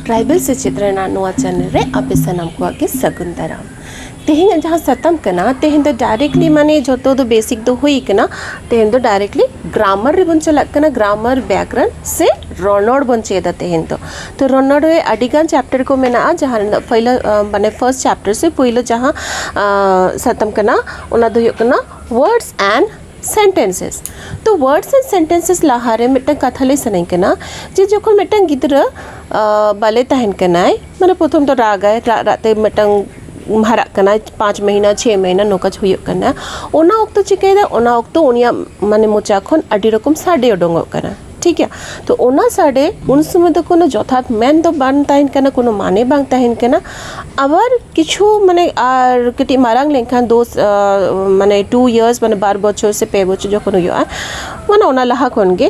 tribal ᱥᱮᱪᱮᱫ ᱨᱮᱱᱟᱜ ᱱᱚᱣᱟ ᱪᱮᱱᱮᱞ ᱨᱮ ᱟᱯᱮ ᱥᱟᱱᱟᱢ ᱠᱚᱣᱟᱜ ᱜᱮ ᱥᱟᱹᱜᱩᱱ ᱫᱟᱨᱟᱢ ᱛᱮᱦᱮᱧ ᱡᱟᱦᱟᱸ ᱥᱟᱛᱟᱢ ᱠᱟᱱᱟ ᱛᱮᱦᱮᱧ ᱫᱚ ᱰᱟᱭᱨᱮᱠᱴᱞᱤ ᱢᱟᱱᱮ ᱡᱚᱛᱚ ᱫᱚ ᱵᱮᱥᱤᱠ ᱫᱚ ᱦᱩᱭ ᱠᱟᱱᱟ ᱛᱮᱦᱮᱧ ᱫᱚ ᱰᱟᱭᱨᱮᱠᱴᱞᱤ ᱜᱨᱟᱢᱟᱨ ᱨᱮᱵᱚᱱ ᱪᱟᱞᱟᱜ ᱠᱟᱱᱟ ᱜᱨᱟᱢᱟᱨ ᱵᱮᱠᱨᱟᱱ ᱥᱮ ᱨᱚᱱᱚᱲ ᱵᱚᱱ ᱪᱮᱫᱟ ᱛᱮᱦᱮᱧ ᱫᱚ ᱛᱚ ᱨᱚᱱᱚᱲ ᱨᱮ ᱟᱹᱰᱤ ᱜᱟᱱ ᱪᱮᱯᱴᱟᱨ ᱠᱚ ᱢᱮᱱᱟᱜᱼᱟ ᱡᱟᱦᱟᱸ ᱨᱮᱱᱟᱜ ᱯᱳᱭᱞᱳ ᱢᱟᱱᱮ ᱯᱷᱟᱨᱥᱴ ᱪᱮᱯᱴᱟᱨ ᱥᱮ ᱯᱳᱭᱞᱳ ᱡᱟᱦᱟᱸ ᱥᱟᱛᱟᱢ ᱠᱟᱱᱟ ᱚᱱᱟ ᱫᱚ ᱦᱩᱭᱩᱜ ᱠᱟᱱᱟ ᱣᱟᱨᱰᱥ ᱮᱱᱰ ᱥᱮᱱᱴᱮᱱᱥᱮᱥ ᱛᱚ ᱣᱟᱨᱰᱥ ᱮᱱᱰ ᱥᱮᱱᱴᱮᱱᱥᱮᱥ ᱞᱟᱦᱟ ᱨᱮ ᱢᱤᱫᱴᱟᱝ ᱠᱟᱛᱷᱟ ᱞᱟᱹᱭ ᱥᱟᱱᱟᱧ ᱠᱟᱱᱟ ᱡᱮ ᱡᱚᱠᱷᱚᱱ ᱢᱤᱫᱴᱟᱝ ᱜᱤᱫᱽᱨᱟᱹ ᱵᱟᱞᱮ ᱛᱟᱦᱮᱱ ᱠᱟᱱᱟᱭ ᱢᱟᱱᱮ ᱯᱨᱚᱛᱷᱚᱢ ᱫᱚ ᱨᱟᱜᱟᱭ ᱨᱟᱜ ᱨᱟᱜ ᱛᱮ ᱢᱤᱫᱴᱟᱝ ᱦᱟᱨᱟᱜ ᱠᱟᱱᱟᱭ ᱯᱟᱸᱪ ᱢᱟᱹᱦᱱᱟᱹ ᱪᱷᱚᱭ ᱢᱟᱹᱦᱱᱟᱹ ᱱᱚᱝᱠᱟ ᱦᱩᱭᱩᱜ ᱠᱟᱱᱟ ᱚᱱᱟ ᱚᱠᱛᱚ ᱪᱤᱠᱟᱹᱭᱮᱫᱟᱭ ᱚᱱᱟ ᱚᱠᱛᱚ ᱩᱱᱤᱭᱟᱜ ᱢᱟᱱᱮ ᱢᱚᱪᱟ ᱠᱷᱚᱱ ᱟᱹᱰᱤ ᱨᱚᱠᱚᱢ ᱥᱟᱰᱮ ᱩᱰᱩᱠᱚᱜ ᱠᱟᱱᱟ ᱴᱷᱤᱠ ᱜᱮᱭᱟ ᱛᱚ ᱚᱱᱟ ᱥᱟᱰᱮ ᱩᱱ ᱥᱚᱢᱚᱭ ᱫᱚ ᱠᱳᱱᱳ ᱡᱚᱛᱷᱟᱛ ᱢᱮᱱ ᱫᱚ ᱵᱟᱝ ᱛᱟᱦᱮᱱ ᱠᱟᱱᱟ ᱠᱳᱱᱳ ᱢᱟᱱᱮ ᱵᱟᱝ ᱛᱟᱦᱮᱱ ᱠᱟᱱᱟ ᱟᱵᱟᱨ ᱠᱤᱪᱷᱩ ᱢᱟᱱᱮ ᱟᱨ ᱠᱟᱹᱴᱤᱡ ᱢᱟᱨᱟᱝ ᱞᱮᱱᱠᱷᱟᱱ ᱫᱳ ᱢᱟᱱᱮ ᱴᱩ ᱤᱭᱟᱨᱥ ᱢᱟᱱᱮ ᱵᱟᱨ ᱵᱚᱪᱷᱚᱨ ᱥᱮ ᱯᱮ ᱵᱚᱪᱷᱚᱨ ᱡᱚᱠᱷᱚᱱ ᱦᱩᱭᱩᱜᱼᱟ ᱢᱟᱱᱮ ᱚᱱᱟ ᱞᱟᱦᱟ ᱠᱷᱚᱱ ᱜᱮ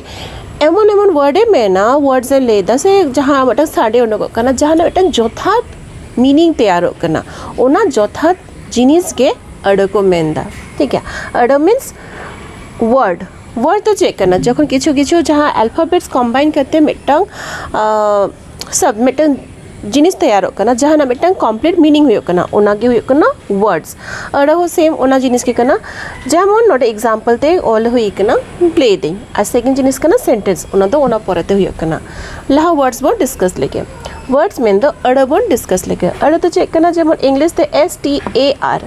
ᱮᱢᱚᱱ ᱮᱢᱚᱱ ᱳᱣᱟᱨᱰ ᱮ ᱢᱮᱱᱟ ᱳᱣᱟᱨᱰ ᱮ ᱞᱟᱹᱭᱫᱟ ᱥᱮ ᱡᱟᱦᱟᱸ ᱢᱤᱫᱴᱟᱝ ᱥᱟᱰᱮ ᱩᱰᱩᱠᱚᱜ ᱠᱟᱱᱟ ᱡᱟᱦᱟᱱᱟᱜ ᱢᱤᱫᱴᱟᱝ ᱡᱚᱛᱷᱟᱛ ᱢᱤᱱᱤᱝ ᱛᱮᱭᱟᱨᱚᱜ ᱠᱟᱱᱟ ᱚᱱᱟ ᱡᱚᱛᱷᱟᱛ ᱡᱤᱱᱤᱥ ᱜᱮ ᱟᱹᱲᱟᱹ ᱠᱚ ᱢᱮᱱᱫᱟ ᱴᱷᱤᱠ ᱜᱮᱭᱟ ᱟᱹᱲᱟᱹ ᱢᱤᱱᱥ ᱳᱣᱟᱨᱰ ᱣᱟᱨᱰ ᱫᱚ ᱪᱮᱫ ᱠᱟᱱᱟ ᱡᱚᱠᱷᱚᱱ ᱠᱤᱪᱷᱩ ᱠᱤᱪᱷᱩ ᱡᱟᱦᱟᱸ ᱟᱞᱯᱷᱟᱵᱮᱴᱥ ᱠᱚᱢᱵᱟᱭᱤᱱ ᱠᱟᱛᱮ ᱢᱤᱫᱴᱟᱝ ᱥᱚᱵ ᱢᱤᱫᱴᱟᱝ ᱡᱤᱱᱤᱥ ᱛᱮᱭᱟᱨᱚᱜ ᱠᱟᱱᱟ ᱡᱟᱦᱟᱱᱟᱜ ᱢᱤᱫᱴᱟᱝ ᱠᱚᱢᱯᱞᱤᱴ ᱢᱤᱱᱤᱝ ᱦᱩᱭᱩᱜ ᱠᱟᱱᱟ ᱚᱱᱟᱜᱮ ᱦᱩᱭᱩᱜ ᱠᱟᱱᱟ ᱣᱟᱨᱰᱥ ᱟᱹᱲᱟᱹ ᱦᱚᱸ ᱥᱮᱢ ᱚᱱᱟ ᱡᱤᱱᱤᱥ ᱜᱮ ᱠᱟᱱᱟ ᱡᱮᱢᱚᱱ ᱱᱚᱰᱮ ᱮᱠᱡᱟᱢᱯᱮᱞ ᱛᱮ ᱚᱞ ᱦᱩᱭ ᱠᱟᱱᱟ ᱞᱟᱹᱭ ᱫᱟᱹᱧ ᱟᱨ ᱥᱮᱠᱮᱱᱰ ᱡᱤᱱᱤᱥ ᱠᱟᱱᱟ ᱥᱮᱱᱴᱮᱱᱥ ᱚᱱᱟ ᱫᱚ ᱚᱱᱟ ᱯᱚᱨᱮᱛᱮ ᱦᱩᱭᱩᱜ ᱠᱟᱱᱟ ᱞᱟᱦᱟ ᱣᱟᱨᱰᱥ ᱵᱚᱱ ᱰᱤᱥᱠᱟᱥ ᱞᱮᱜᱮ ᱣᱟᱨᱰᱥ ᱢᱮᱱᱫᱚ ᱟᱹᱲᱟᱹ ᱵᱚᱱ ᱰᱤᱥᱠᱟᱥ ᱞᱮᱜᱮ ᱟᱹᱲᱟᱹ ᱫᱚ ᱪᱮᱫ ᱠᱟᱱᱟ ᱡᱮᱢᱚᱱ ᱤᱝᱞᱤᱥ ᱛᱮ ᱮᱥ ᱴᱤ ᱮ ᱟᱨ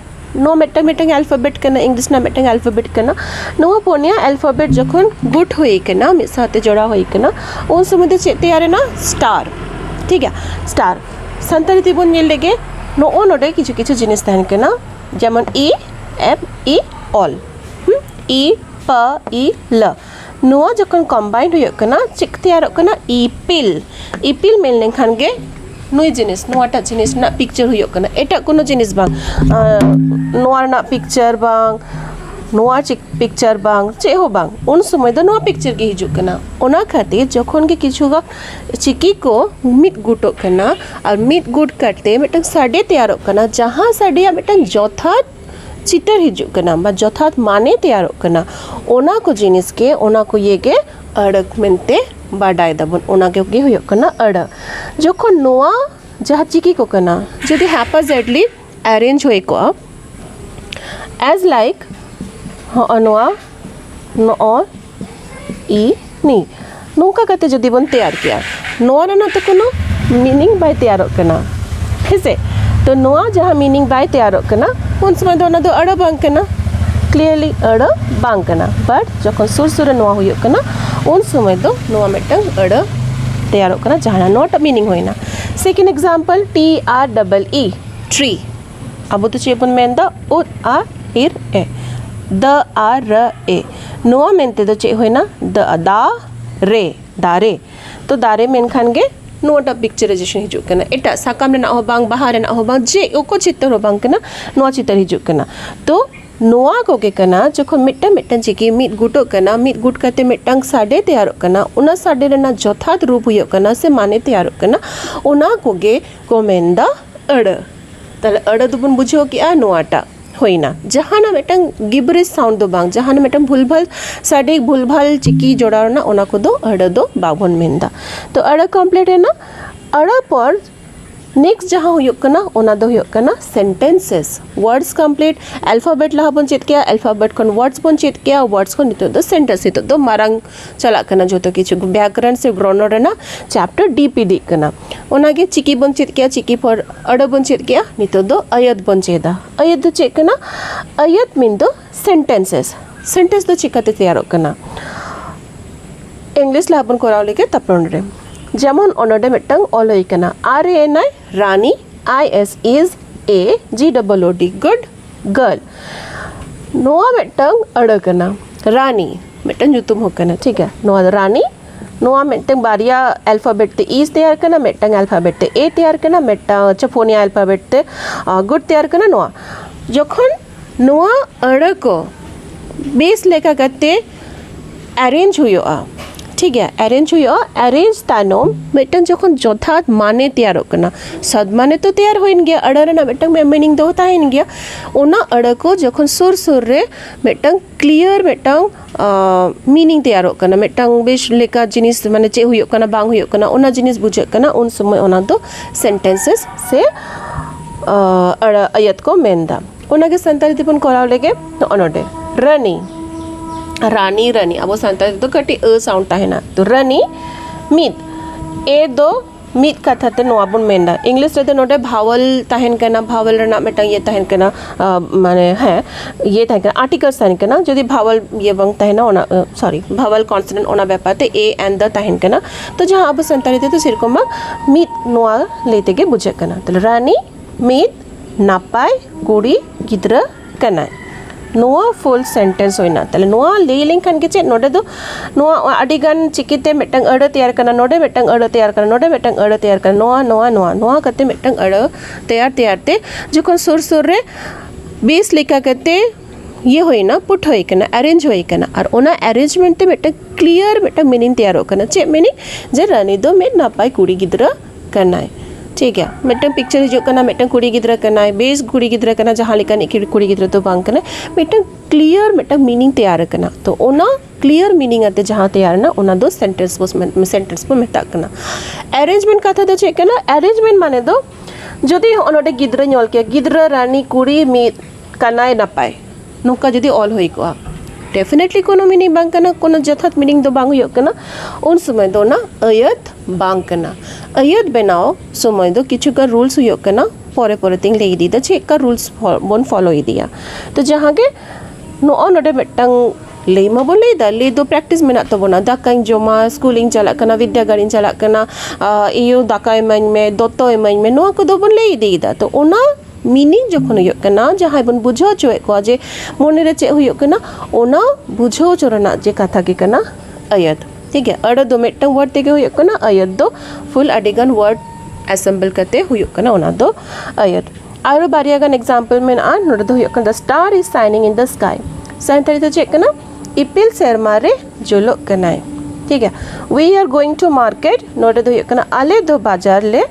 ᱱᱚᱣᱟ ᱢᱤᱫᱴᱟᱝ ᱢᱤᱫᱴᱟᱝ ᱟᱞᱯᱷᱟᱵᱮᱴ ᱠᱟᱱᱟ ᱤᱝᱞᱤᱥ ᱨᱮᱱᱟᱜ ᱢᱤᱫᱴᱟᱝ ᱟᱞᱯᱷᱟᱵᱮᱴ ᱠᱟᱱᱟ ᱱᱚᱣᱟ ᱯᱩᱱᱭᱟ ᱟᱞᱯᱷᱟᱵᱮᱴ ᱡᱚᱠᱷᱚᱱ ᱜᱩᱴ ᱦᱩᱭ ᱠᱟᱱᱟ ᱢᱤᱫ ᱥᱟᱶᱛᱮ ᱡᱚᱲᱟᱣ ᱦᱩᱭ ᱠᱟᱱᱟ ᱩᱱ ᱥᱚᱢᱚᱭ ᱫᱚ ᱪᱮᱫ ᱛᱮᱭᱟᱨᱮᱱᱟ ᱥᱴᱟᱨ ᱴᱷᱤᱠ ᱜᱮᱭᱟ ᱥᱴᱟᱨ ᱥᱟᱱᱛᱟᱲᱤ ᱛᱮᱵᱚᱱ ᱧᱮᱞ ᱞᱮᱜᱮ ᱱᱚᱜᱼᱚ ᱱᱚᱰᱮ ᱠᱤᱪᱷᱩ ᱠᱤᱪᱷᱩ ᱡᱤᱱᱤᱥ ᱛᱟᱦᱮᱱ ᱠᱟᱱᱟ ᱡᱮᱢᱚᱱ ᱤ ᱮᱯᱷ ᱤ ᱚᱞ ᱤ ᱯ ᱤ ᱞ ᱱᱚᱣᱟ ᱡᱚᱠᱷᱚᱱ ᱠᱚᱢᱵᱟᱭᱤᱱᱰ ᱦᱩᱭᱩᱜ ᱠᱟᱱᱟ ᱪᱮᱫ ᱛᱮᱭᱟᱨᱚᱜ ᱠᱟᱱᱟ ᱤᱯᱤᱞ ᱤᱯᱤᱞ ᱢᱮᱱ ᱞᱮᱱᱠᱷᱟᱱ ᱜᱮ ᱱᱩᱭ ᱡᱤᱱᱤᱥ ᱱᱚᱣᱟᱴᱟᱜ ᱡᱤᱱᱤᱥ ᱨᱮᱱᱟᱜ ᱯᱤᱠᱪᱟᱨ ᱦᱩᱭᱩᱜ ᱠᱟᱱᱟ ᱮᱴᱟᱜ ᱠᱳᱱᱳ ᱡᱤᱱᱤᱥ ᱵᱟᱝ ᱱᱚᱣᱟ ᱨᱮᱱᱟᱜ ᱯᱤᱠᱪᱟᱨ ᱵᱟᱝ ᱱᱚᱣᱟ ᱪᱮᱫ ᱯᱤᱠᱪᱟᱨ ᱵᱟᱝ ᱪᱮᱫ ᱦᱚᱸ ᱵᱟᱝ ᱩᱱ ᱥᱚᱢᱚᱭ ᱫᱚ ᱱᱚᱣᱟ ᱯᱤᱠᱪᱟᱨ ᱜᱮ ᱦᱤᱡᱩᱜ ᱠᱟᱱᱟ ᱚᱱᱟ ᱠᱷᱟᱹᱛᱤᱨ ᱡᱚᱠᱷᱚᱱ ᱜᱮ ᱠᱤᱪᱷᱩ ᱜᱟᱱ ᱪᱤᱠᱤ ᱠᱚ ᱢᱤᱫ ᱜᱩᱴᱚᱜ ᱠᱟᱱᱟ ᱟᱨ ᱢᱤᱫ ᱜᱩᱴ ᱠᱟᱛᱮᱫ ᱢᱤᱫᱴᱟᱝ ᱥᱟᱰᱮ ᱛᱮᱭᱟᱨᱚᱜ ᱠᱟᱱᱟ ᱡᱟᱦᱟᱸ ᱥᱟᱰᱮᱭᱟᱜ ᱢᱤᱫᱴᱟᱝ ᱡᱚᱛᱷᱟᱛ ᱪᱤᱛᱟᱹᱨ ᱦᱤᱡᱩᱜ ᱠᱟᱱᱟ ᱵᱟ ᱡᱚᱛᱷᱟᱛ ᱢᱟᱱᱮ ᱛᱮᱭᱟᱨᱚᱜ ᱠᱟᱱᱟ ᱚᱱᱟ ᱠᱚ ᱡᱤᱱᱤᱥ ᱜᱮ ᱚᱱᱟ ᱠᱚ ᱤᱭᱟᱹ ᱜᱮ ᱟᱹᱲᱟᱹ ᱢᱮᱱᱛᱮ ᱵᱟᱰᱟᱭ ᱫᱟᱵᱚᱱ ᱚᱱᱟ ᱠᱚᱜᱮ ᱦᱩᱭᱩᱜ ᱠᱟᱱᱟ ᱟᱹᱲᱟᱹ ᱡᱚᱠᱷᱚᱱ ᱱᱚᱣᱟ ᱡᱟᱦᱟᱸ ᱪᱤᱠᱤ ᱠᱚ ᱠᱟᱱᱟ ᱡᱩᱫᱤ ᱦᱮᱯᱟᱡᱮᱰᱞᱤ ᱮᱨᱮᱧᱡᱽ ᱦᱩᱭ ᱠᱚᱜᱼᱟ ᱮᱡᱽ ᱞᱟᱭᱤᱠ ᱦᱚᱸᱜᱼᱚ ᱱᱚᱣᱟ ᱱᱚᱜᱼᱚ ᱤ ᱱᱤ ᱱᱚᱝᱠᱟ ᱠᱟᱛᱮ ᱡᱩᱫᱤ ᱵᱚᱱ ᱛᱮᱭᱟᱨ ᱠᱮᱭᱟ ᱱᱚᱣᱟ ᱨᱮᱱᱟᱜ ᱛᱚ ᱠᱳᱱᱳ ᱢᱤᱱᱤᱝ ᱵᱟᱭ ᱛᱮᱭᱟᱨᱚᱜ ᱠᱟᱱᱟ ᱦᱮᱸᱥᱮ ᱛᱚ ᱱᱚᱣᱟ ᱡᱟᱦᱟᱸ ᱢᱤᱱᱤᱝ ᱵᱟᱭ ᱛᱮᱭᱟᱨᱚᱜ ᱠᱟᱱᱟ ᱩᱱ ᱥᱚᱢᱚᱭ ᱫᱚ ᱚᱱᱟ ᱫᱚ ᱟᱹᱲᱟᱹ ᱵᱟᱝ ᱠᱟᱱᱟ ᱠᱞᱤᱭᱟᱨᱞᱤ ᱟᱹᱲᱟᱹ ᱵᱟᱝ ᱠᱟᱱᱟ ᱵᱟᱴ ᱡᱚᱠᱷᱚᱱ ᱥᱩᱨ ᱥᱩᱨ ᱨᱮ ᱱᱚᱣᱟ ᱦᱩᱭᱩᱜ ᱠᱟᱱᱟ ᱩᱱ ᱥᱚᱢᱚᱭ ᱫᱚ ᱱᱚᱣᱟ ᱢᱤᱫᱴᱟᱝ ᱟᱹᱲᱟᱹ ᱛᱮᱭᱟᱨᱚᱜ ᱠᱟᱱᱟ ᱡᱟᱦᱟᱱᱟᱜ ᱱᱚᱣᱟᱴᱟᱜ ᱢᱤᱱᱤᱝ ᱦᱩᱭᱱᱟ second example T R double E tree ᱟᱵᱚ ᱫᱚ ᱪᱮᱫ ᱵᱚᱱ ᱢᱮᱱᱫᱟ ᱩᱫ ᱟ ᱤᱨ ᱮ ᱫ ᱟ ᱨ ᱮ ᱱᱚᱣᱟ ᱢᱮᱱᱛᱮ ᱫᱚ ᱪᱮᱫ ᱦᱩᱭᱱᱟ ᱫ ᱫᱟ ᱨᱮ ᱫᱟᱨᱮ ᱛᱚ ᱫᱟᱨᱮ ᱢᱮᱱᱠᱷᱟᱱ ᱜᱮ ᱱᱚᱣᱟᱴᱟᱜ ᱯᱤᱠᱪᱟᱨᱟᱭᱡᱮᱥᱚᱱ ᱦᱤᱡᱩᱜ ᱠᱟᱱᱟ ᱮᱴᱟᱜ ᱥᱟᱠᱟᱢ ᱨᱮᱱᱟᱜ ᱦᱚᱸ ᱵᱟᱝ ᱵᱟᱦᱟ ᱨᱮᱱᱟᱜ ᱦᱚᱸ ᱵᱟᱝ ᱡᱮ ᱚᱠᱚᱭ ᱪᱤᱛᱟᱹᱨ ᱦᱚᱸ ᱵᱟᱝ ᱠᱟᱱᱟ ᱱᱚᱣᱟ ᱪᱤᱛᱟᱹᱨ ᱦᱤᱡᱩᱜ ᱠᱟᱱᱟ ᱛᱚ ᱱᱚᱣᱟ ᱠᱚᱜᱮ ᱠᱟᱱᱟ ᱡᱚᱠᱷᱚᱱ ᱢᱤᱫᱴᱟᱝ ᱢᱤᱫᱴᱟᱝ ᱪᱤᱠᱤ ᱢᱤᱫ ᱜᱩᱴᱚᱜ ᱠᱟᱱᱟ ᱢᱤᱫ ᱜᱩᱴ ᱠᱟᱛᱮ ᱢᱤᱫᱴᱟᱝ ᱥᱟᱰᱮ ᱛᱮᱭᱟᱨᱚᱜ ᱠᱟᱱᱟ ᱚᱱᱟ ᱥᱟᱰᱮ ᱨᱮᱱᱟᱜ ᱡᱚᱛᱷᱟᱛ ᱨᱩᱯ ᱦᱩᱭᱩᱜ ᱠᱟᱱᱟ ᱥᱮ ᱢᱟᱱᱮ ᱛᱮᱭᱟᱨᱚᱜ ᱠᱟᱱᱟ ᱚᱱᱟ ᱠᱚᱜᱮ ᱠᱚ ᱢᱮᱱᱫᱟ ᱟᱹᱲᱟᱹ ᱛᱟᱦᱚᱞᱮ ᱟᱹᱲᱟᱹ ᱫᱚᱵᱚᱱ ᱵᱩᱡᱷᱟᱹᱣ ᱠᱮᱜᱼᱟ ᱱᱚᱣᱟᱴᱟᱜ ᱦᱩᱭᱱᱟ ᱡᱟᱦᱟᱱᱟᱜ ᱢᱤᱫᱴᱟᱝ ᱜᱤᱵᱽᱨᱤᱥ ᱥᱟᱣᱩᱱᱰ ᱫᱚ ᱵᱟᱝ ᱡᱟᱦᱟᱱᱟᱜ ᱢᱤᱫᱴᱟᱝ ᱵᱷᱩᱞ ᱵᱷᱟᱞ ᱥᱟᱰᱮ ᱵᱷᱩᱞ ᱵᱷᱟᱞ ᱪᱤᱠᱤ ᱡᱚᱲᱟᱣ ᱨᱮᱱᱟᱜ ᱚᱱᱟ ᱠᱚᱫᱚ ᱟᱹᱲᱟᱹ ᱫᱚ ᱵᱟᱵᱚᱱ ᱢᱮᱱᱫᱟ ᱛᱚ ᱟᱹᱲᱟᱹ ᱠᱚᱢᱯᱞᱤᱴ ᱮᱱᱟ ᱟᱹᱲᱟᱹ ᱯᱚᱨ ᱱᱮᱠᱥᱴ ᱡᱟᱦᱟᱸ ᱦᱩᱭᱩᱜ ᱠᱟᱱᱟ ᱚᱱᱟ ᱫᱚ ᱦᱩᱭᱩᱜ ᱠᱟᱱᱟ ᱥᱮᱱᱴᱮᱱᱥᱮᱥ ᱳᱣᱟᱨᱰᱥ ᱠᱚᱢᱯᱞᱤᱴ ᱮᱞᱯᱷᱟᱵᱮᱴ ᱞᱟᱦᱟ ᱵᱚᱱ ᱪᱮᱫ ᱠᱮᱜᱼᱟ ᱮᱞᱯᱷᱟᱵᱮᱴ ᱠᱷᱚᱱ ᱳᱣᱟᱨᱰᱥ ᱵᱚᱱ ᱪᱮᱫ ᱠᱮᱜᱼᱟ ᱳᱣᱟᱨᱰᱥ ᱠᱷᱚᱱ ᱱᱤᱛᱚᱜ ᱫᱚ ᱥᱮᱱᱴᱮᱱᱥ ᱱᱤᱛᱚᱜ ᱫᱚ ᱢᱟᱨᱟᱝ ᱪᱟᱞᱟᱜ ᱠᱟᱱᱟ ᱡᱚᱛᱚ ᱠᱤᱪᱷᱩ ᱵᱮᱠᱨᱚᱱ ᱥᱮ ᱜᱨᱚᱱᱚ ᱨᱮᱱᱟᱜ ᱪᱮᱯᱴᱟᱨ ᱰᱤᱯ ᱤᱫᱤᱜ ᱠᱟᱱᱟ ᱚᱱᱟᱜᱮ ᱪᱤᱠᱤ ᱵᱚᱱ ᱪᱮᱫ ᱠᱮᱜᱼᱟ ᱪᱤᱠᱤ ᱯᱚᱨ ᱟᱹᱲᱟᱹ ᱵᱚᱱ ᱪᱮᱫ ᱠᱮᱜᱼᱟ ᱱᱤᱛᱚᱜ ᱫᱚ ᱟᱹᱭᱟᱹᱛ ᱵᱚᱱ ᱪᱮᱫᱟ ᱟᱹᱭᱟᱹᱛ ᱫᱚ ᱪᱮᱫ ᱠᱟᱱᱟ ᱟᱹᱭᱟᱹᱛ ᱢᱤᱱ ᱫᱚ ᱥᱮᱱᱴᱮᱱᱥᱮᱥ ᱥᱮᱱᱴᱮᱱᱥ ᱫᱚ ᱪᱤᱠᱟᱹᱛᱮ ᱛᱮᱭᱟᱨᱚᱜ ᱠᱟᱱᱟ ᱤᱝᱞᱤᱥ ᱞᱟᱦᱟ ᱵᱚᱱ ᱠᱚᱨᱟᱣ ᱞᱮᱜᱮ ᱛᱟᱨᱯᱚᱨ ᱚᱸᱰᱮ ᱡᱮᱢᱚᱱ ᱚᱱᱚᱰᱮ ᱢᱤᱫᱴᱟᱝ ᱚᱞ ᱦᱩᱭ ᱠᱟᱱᱟ ᱟᱨ ᱮ ᱮᱱ ᱟᱭ ᱨᱟᱱᱤ I S is a G double O D good girl ᱱᱚᱣᱟ ᱢᱤᱫᱴᱟᱝ ᱟᱹᱲᱟᱹ ᱠᱟᱱᱟ ᱨᱟᱱᱤ ᱢᱤᱫᱴᱟᱝ ᱧᱩᱛᱩᱢ ᱦᱚᱸ ᱠᱟᱱᱟ ᱴᱷᱤᱠ ᱜᱮᱭᱟ ᱱᱚᱣᱟ ᱫᱚ ᱨᱟᱱᱤ ᱱᱚᱣᱟ ᱢᱤᱫᱴᱟᱝ ᱵᱟᱨᱭᱟ ᱟᱞᱯᱷᱟᱵᱮᱴ ᱛᱮ ᱤ ᱛᱮᱭᱟᱨ ᱠᱟᱱᱟ ᱢᱤᱫᱴᱟᱝ ᱟᱞᱯᱷᱟᱵᱮᱴ ᱛᱮ ᱮ ᱛᱮᱭᱟᱨ ᱠᱟᱱᱟ ᱢᱤᱫᱴᱟᱝ ᱦᱚᱪᱪᱷᱮ ᱯᱩᱱᱭᱟ ᱟᱞᱯᱷᱟᱵᱮᱴ ᱛᱮ ᱜᱩᱰ ᱛᱮᱭᱟᱨ ᱠᱟᱱᱟ ᱱᱚᱣᱟ ᱡᱚᱠᱷᱚᱱ ᱱᱚᱣᱟ ᱟᱹᱲᱟᱹ ᱠᱚ ᱵᱮᱥ ᱞᱮᱠᱟ ᱠᱟᱛᱮ ᱮᱨᱮᱧᱡᱽ ᱦᱩᱭᱩᱜᱼᱟ ᱴᱷᱤᱠ ᱜᱮᱭᱟ ᱮᱨᱮᱧᱡᱽ ᱦᱩᱭᱩᱜᱼᱟ ᱮᱨᱮᱧᱡᱽ ᱛᱟᱭᱱᱚᱢ ᱢᱤᱫᱴᱟᱝ ᱡᱚᱠᱷᱚᱱ ᱡᱚᱛᱷᱟᱛ ᱢᱟᱱᱮ ᱛᱮᱭᱟᱨᱚᱜ ᱠᱟᱱᱟ ᱥᱟᱫᱽ ᱢᱟᱱᱮ ᱛᱚ ᱛᱮᱭᱟᱨ ᱦᱩᱭᱮᱱ ᱜᱮᱭᱟ ᱟᱹᱲᱟᱹ ᱨᱮᱱᱟᱜ ᱢᱤᱫᱴᱟᱝ ᱢᱤᱱᱤᱝ ᱫᱚ ᱛᱟᱦᱮᱱ ᱜᱮᱭᱟ ᱚᱱᱟ ᱟᱹᱲᱟᱹ ᱠᱚ ᱡᱚᱠᱷᱚᱱ ᱥᱩᱨ ᱥᱩᱨ ᱨᱮ ᱢᱤᱫᱴᱟᱝ ᱠᱞᱤᱭᱟᱨ ᱢᱤᱫᱴᱟᱝ ᱢᱤᱱᱤᱝ ᱛᱮᱭᱟᱨᱚᱜ ᱠᱟᱱᱟ ᱢᱤᱫᱴᱟᱝ ᱵᱮᱥ ᱞᱮᱠᱟ ᱡᱤᱱᱤᱥ ᱢᱟᱱᱮ ᱪᱮᱫ ᱦᱩᱭᱩᱜ ᱠᱟᱱᱟ ᱵᱟᱝ ᱦᱩᱭᱩᱜ ᱠᱟᱱᱟ ᱚᱱᱟ ᱡᱤᱱᱤᱥ ᱵᱩᱡᱷᱟᱹᱜ ᱠᱟᱱᱟ ᱩᱱ ᱥᱚᱢᱚᱭ ᱚᱱᱟ ᱫᱚ ᱥᱮᱱᱴᱮᱱᱥᱮᱥ ᱥᱮ ᱟᱹᱲᱟᱹ ᱟᱹᱭᱟᱹᱛ ᱠᱚ ᱢᱮᱱᱫᱟ ᱚᱱᱟᱜᱮ ᱥᱟᱱᱛᱟᱲᱤ ᱛᱮᱵᱚᱱ ᱠᱚᱨᱟᱣ ᱞᱮᱜᱮ ᱱᱚᱜᱼᱚᱭ ᱱᱚᱰᱮ ᱨᱟᱹᱱᱤ ᱨᱟᱹᱱᱤ ᱨᱟᱹᱱᱤ ᱟᱵᱚ ᱥᱟᱱᱛᱟᱲᱤ ᱛᱮᱫᱚ ᱠᱟᱹᱴᱤᱡ ᱟᱹ ᱥᱟᱣᱩᱱᱰ ᱛᱟᱦᱮᱱᱟ ᱛᱚ ᱨᱟᱹᱱᱤ ᱢᱤᱫ ᱮ ᱫᱚ ᱢᱤᱫ ᱠᱟᱛᱷᱟ ᱛᱮ ᱱᱚᱣᱟ ᱵᱚᱱ ᱢᱮᱱᱫᱟ ᱤᱝᱞᱤᱥ ᱨᱮᱫᱚ ᱱᱚᱰᱮ ᱵᱷᱟᱣᱮᱞ ᱛᱟᱦᱮᱱ ᱠᱟᱱᱟ ᱵᱷᱟᱣᱮᱞ ᱨᱮᱱᱟᱜ ᱢᱤᱫᱴᱟᱝ ᱤᱭᱟᱹ ᱛᱟᱦᱮᱱ ᱠᱟᱱᱟ ᱢᱟᱱᱮ ᱦᱮᱸ ᱤᱭᱟᱹ ᱛᱟᱦᱮᱱ ᱠᱟᱱᱟ ᱟᱨᱴᱤᱠᱮᱞᱥ ᱛᱟᱦᱮᱱ ᱠᱟᱱᱟ ᱡᱩᱫᱤ ᱵᱷᱟᱣᱮᱞ ᱤᱭᱟᱹ ᱵᱟᱝ ᱛᱟᱦᱮᱱᱟ ᱚᱱᱟ ᱥᱚᱨᱤ ᱵᱷᱟᱣᱮᱞ ᱠᱚᱱᱥᱚᱱᱮᱱᱴ ᱚᱱᱟ ᱵᱮᱯᱟᱨ ᱛᱮ ᱮ ᱮᱱ ᱫᱚ ᱛᱟᱦᱮᱱ ᱠᱟᱱᱟ ᱛᱚ ᱡᱟᱦᱟᱸ ᱟᱵᱚ ᱥᱟᱱᱛᱟᱲᱤ ᱛᱮᱫᱚ ᱥᱮᱨᱚᱠᱚᱢ ᱵᱟᱝ ᱢᱤᱫ ᱱᱚᱣᱟ ᱞᱟᱹᱭ ᱛᱮᱜᱮ ᱵᱩᱡᱷᱟᱹᱜ ᱠᱟᱱᱟ ᱛᱟᱦᱚᱞᱮ ᱨᱟᱱᱤ ᱢᱤᱫ ᱱᱟᱯᱟᱭ ᱠᱩᱲᱤ ᱜᱤᱫᱽᱨᱟᱹ ᱠᱟᱱᱟ ᱱᱚᱣᱟ ᱯᱷᱩᱞ ᱥᱮᱱᱴᱮᱱᱥ ᱦᱩᱭᱱᱟ ᱛᱟᱦᱚᱞᱮ ᱱᱚᱣᱟ ᱞᱟᱹᱭ ᱞᱮᱱᱠᱷᱟᱱ ᱜᱮ ᱪᱮᱫ ᱱᱚᱰᱮ ᱫᱚ ᱱᱚᱣᱟ ᱟᱹᱰᱤᱜᱟᱱ ᱪᱤᱠᱤᱛᱮ ᱢᱤᱫᱴᱟᱝ ᱟᱹᱲᱟᱹ ᱛᱮᱭᱟᱨ ᱠᱟᱱᱟ ᱱᱚᱰᱮ ᱢᱤᱫᱴᱟᱝ ᱟᱹᱲᱟᱹ ᱛᱮᱭᱟᱨ ᱠᱟᱱᱟ ᱱᱚᱰᱮ ᱢᱤᱫᱴᱟᱝ ᱟᱹᱲᱟᱹ ᱛᱮᱭᱟᱨ ᱠᱟᱱᱟ ᱱᱚᱣᱟ ᱱᱚᱣᱟ ᱱᱚᱣᱟ ᱱᱚᱣᱟ ᱠᱟᱛᱮ ᱢᱤᱫᱴᱟᱝ ᱟᱹᱲᱟᱹ ᱛᱮᱭᱟᱨ ᱛᱮᱭᱟᱨ ᱛᱮ ᱡᱚᱠᱷᱚᱱ ᱥᱩᱨ ᱥᱩᱨ ᱨᱮ ᱵᱮᱥ ᱞᱮᱠᱟ ᱠᱟᱛᱮ ᱤᱭᱟᱹ ᱦᱩᱭᱱᱟ ᱯᱩᱴ ᱦᱩᱭ ᱠᱟᱱᱟ ᱮᱨᱮᱧᱡᱽ ᱦᱩᱭ ᱠᱟᱱᱟ ᱟᱨ ᱚᱱᱟ ᱮᱨᱮᱧᱡᱽᱢᱮᱱᱴ ᱛᱮ ᱢᱤᱫᱴᱟᱝ ᱠᱞᱤᱭᱟᱨ ᱢᱤᱫᱴᱟᱝ ᱢᱤᱱᱤᱝ ᱛᱮᱭᱟᱨᱚᱜ ᱠᱟᱱᱟ ᱪᱮᱫ ᱢᱤᱱᱤᱝ ᱡᱮ ᱨᱟᱹᱱᱤ ᱫᱚ ᱢᱤᱫ ᱱᱟᱯᱟᱭ ᱠᱩᱲᱤ ᱜᱤᱫᱽᱨᱟᱹ ᱠᱟᱱᱟᱭ ᱴᱷᱤᱠ ᱜᱮᱭᱟ ᱢᱤᱫᱴᱟᱝ ᱯᱤᱠᱪᱟᱨ ᱦᱤᱡᱩᱜ ᱠᱟᱱᱟ ᱢᱤᱫᱴᱟᱝ ᱠᱩᱲᱤ ᱜᱤᱫᱽᱨᱟᱹ ᱠᱟᱱᱟᱭ ᱵᱮᱥ ᱠᱩᱲᱤ ᱜᱤᱫᱽᱨᱟᱹ ᱠᱟᱱᱟᱭ ᱡᱟᱦᱟᱸ ᱞᱮᱠᱟᱱᱤᱡ ᱠᱩᱲᱤ ᱜᱤᱫᱽᱨᱟᱹ ᱫᱚ ᱵᱟᱝ ᱠᱟᱱᱟᱭ ᱢᱤᱫᱴᱟᱝ ᱠᱞᱤᱭᱟᱨ ᱢᱤᱫᱴᱟᱝ ᱢᱤᱱᱤᱝ ᱛᱮᱭᱟᱨ ᱟᱠᱟᱱᱟ ᱛᱚ ᱚᱱᱟ ᱠᱞᱤᱭᱟᱨ ᱢᱤᱱᱤᱝ ᱟᱛᱮ ᱡᱟᱦᱟᱸ ᱛᱮᱭᱟᱨ ᱮᱱᱟ ᱚᱱᱟ ᱫᱚ ᱥᱮᱱᱴᱮᱱᱥ ᱵᱚ ᱥᱮᱱᱴᱮᱱᱥ ᱵᱚ ᱢᱮᱛᱟᱜ ᱠᱟᱱᱟ ᱮᱨᱮᱧᱡᱽᱢᱮᱱᱴ ᱠᱟᱛᱷᱟ ᱫᱚ ᱪᱮᱫ ᱠᱟᱱᱟ ᱮᱨᱮᱧᱡᱽᱢᱮᱱᱴ ᱢᱟᱱᱮ ᱫᱚ ᱡᱩᱫᱤ ᱦᱚᱸᱜᱼᱚᱭ ᱱᱚᱰᱮ ᱜᱤᱫᱽᱨᱟᱹ ᱧᱮᱞ ᱠᱮᱫᱮᱭᱟ ᱜᱤᱫᱽᱨᱟᱹ ᱨᱟᱱᱤ ᱠᱩᱲᱤ ᱢᱤᱫ ᱠᱟᱱᱟᱭ ᱱᱟᱯᱟᱭ ᱱᱚᱝᱠᱟ ᱡᱩᱫᱤ ᱚᱞ ᱦᱩᱭ ᱠᱚᱜᱼᱟ ᱰᱮᱯᱷᱤᱱᱮᱴᱞᱤ ᱠᱳᱱᱳ ᱢᱤᱱᱤᱝ ᱵᱟᱝ ᱠᱟᱱᱟ ᱠᱳᱱᱳ ᱡᱚᱛᱷᱟᱛ ᱢᱤᱱᱤᱝ ᱫᱚ ᱵᱟᱝ ᱦᱩᱭᱩᱜ ᱠᱟᱱᱟ ᱩᱱ ᱥᱚᱢᱚᱭ ᱫᱚ ᱚᱱᱟ ᱟᱹᱭᱟᱹᱛ ᱵᱟᱝ ᱠᱟᱱᱟ ᱟᱹᱭᱟᱹᱛ ᱵᱮᱱᱟᱣ ᱥᱚᱢᱚᱭ ᱫᱚ ᱠᱤᱪᱷᱩ ᱜᱟᱱ ᱨᱩᱞᱥ ᱦᱩᱭᱩᱜ ᱠᱟᱱᱟ ᱯᱚᱨᱮ ᱯᱚᱨᱮ ᱛᱤᱧ ᱞᱟᱹᱭ ᱤᱫᱤᱭᱮᱫᱟ ᱪᱮᱫ ᱞᱮᱠᱟ ᱨᱩᱞᱥ ᱵᱚᱱ ᱯᱷᱳᱞᱳ ᱤᱫᱤᱭᱟ ᱛᱚ ᱡᱟᱦᱟᱸ ᱜᱮ ᱱᱚᱜᱼᱚᱭ ᱱᱚᱰᱮ ᱢᱤᱫᱴᱟᱝ ᱞᱟᱹᱭ ᱢᱟᱵᱚᱱ ᱞᱟᱹᱭᱫᱟ ᱞᱟᱹᱭ ᱫᱚ ᱯᱨᱮᱠᱴᱤᱥ ᱢᱮᱱᱟᱜ ᱛᱟᱵᱚᱱᱟ ᱫᱟᱠᱟᱧ ᱡᱚᱢᱟ ᱥᱠᱩᱞᱤᱧ ᱪᱟᱞᱟᱜ ᱠᱟᱱᱟ ᱵᱤᱫᱽᱫᱟᱹᱜᱟᱲᱤᱧ ᱪᱟᱞᱟᱜ ᱠᱟᱱᱟ ᱤᱭᱩ ᱫᱟᱠᱟ ᱤᱢᱟᱹᱧ ᱢᱮ ᱫᱚᱛᱚ ᱤᱢᱟᱹᱧ ᱢᱮ ᱱᱚᱣᱟ ᱠᱚᱫᱚ ᱵᱚᱱ ᱞᱟᱹᱭ ᱤᱫᱤᱭᱮᱫᱟ ᱛᱚ ᱚᱱᱟ ᱢᱤᱱᱤᱝ ᱡᱚᱠᱷᱚᱱ ᱦᱩᱭᱩᱜ ᱠᱟᱱᱟ ᱡᱟᱦᱟᱸᱭ ᱵᱚᱱ ᱵᱩᱡᱷᱟᱹᱣ ᱦᱚᱪᱚᱭᱮᱫ ᱠᱚᱣᱟ ᱡᱮ ᱢᱚᱱᱮ ᱨᱮ ᱪᱮᱫ ᱦᱩᱭᱩᱜ ᱠᱟᱱᱟ ᱚᱱᱟ ᱵᱩᱡᱷᱟᱹᱣ ᱦᱚᱪᱚ ᱨᱮᱱᱟᱜ ᱡᱮ ᱠᱟᱛᱷᱟ ᱜᱮ ᱠᱟᱱᱟ ᱟᱹᱭᱟᱹᱛ ᱴᱷᱤᱠ ᱜᱮᱭᱟ ᱟᱹᱲᱟᱹ ᱫᱚ ᱢᱤᱫᱴᱟᱝ ᱣᱟᱨᱰ ᱛᱮᱜᱮ ᱦᱩᱭᱩᱜ ᱠᱟᱱᱟ ᱟᱹᱭᱟᱹᱛ ᱫᱚ ᱯᱷᱩᱞ ᱟᱹᱰᱤ ᱜᱟᱱ ᱣᱟᱨᱰ ᱮᱥᱮᱢᱵᱮᱞ ᱠᱟᱛᱮ ᱦᱩᱭᱩᱜ ᱠᱟᱱᱟ ᱚᱱᱟ ᱫᱚ ᱟᱹᱭᱟᱹᱛ ᱟᱨᱚ ᱵᱟᱨᱭᱟ ᱜᱟᱱ ᱮᱠᱡᱟᱢᱯᱚᱞ ᱢᱮᱱᱟᱜᱼᱟ ᱱᱚᱰᱮ ᱫᱚ ᱦᱩᱭᱩᱜ ᱠᱟᱱᱟ ᱫᱟ ᱥᱴᱟᱨ ᱤᱡ ᱥᱟᱭᱱᱤᱝ ᱤᱱ ᱫᱟ ᱥᱠᱟᱭ ᱥᱟᱱᱛᱟᱲᱤ ᱫᱚ ᱪᱮᱫ ᱠᱟᱱᱟ ᱤᱯᱤᱞ ᱥᱮᱨᱢᱟ ᱨᱮ ᱡᱩᱞᱩᱜ ᱠᱟᱱᱟᱭ ᱴᱷᱤᱠ ᱜᱮᱭᱟ we are going to market ᱱᱚᱰᱮ ᱫᱚ ᱦᱩᱭᱩᱜ ᱠᱟᱱᱟ ᱟᱞᱮ ᱫᱚ ᱵᱟᱡᱟᱨ ᱞᱮ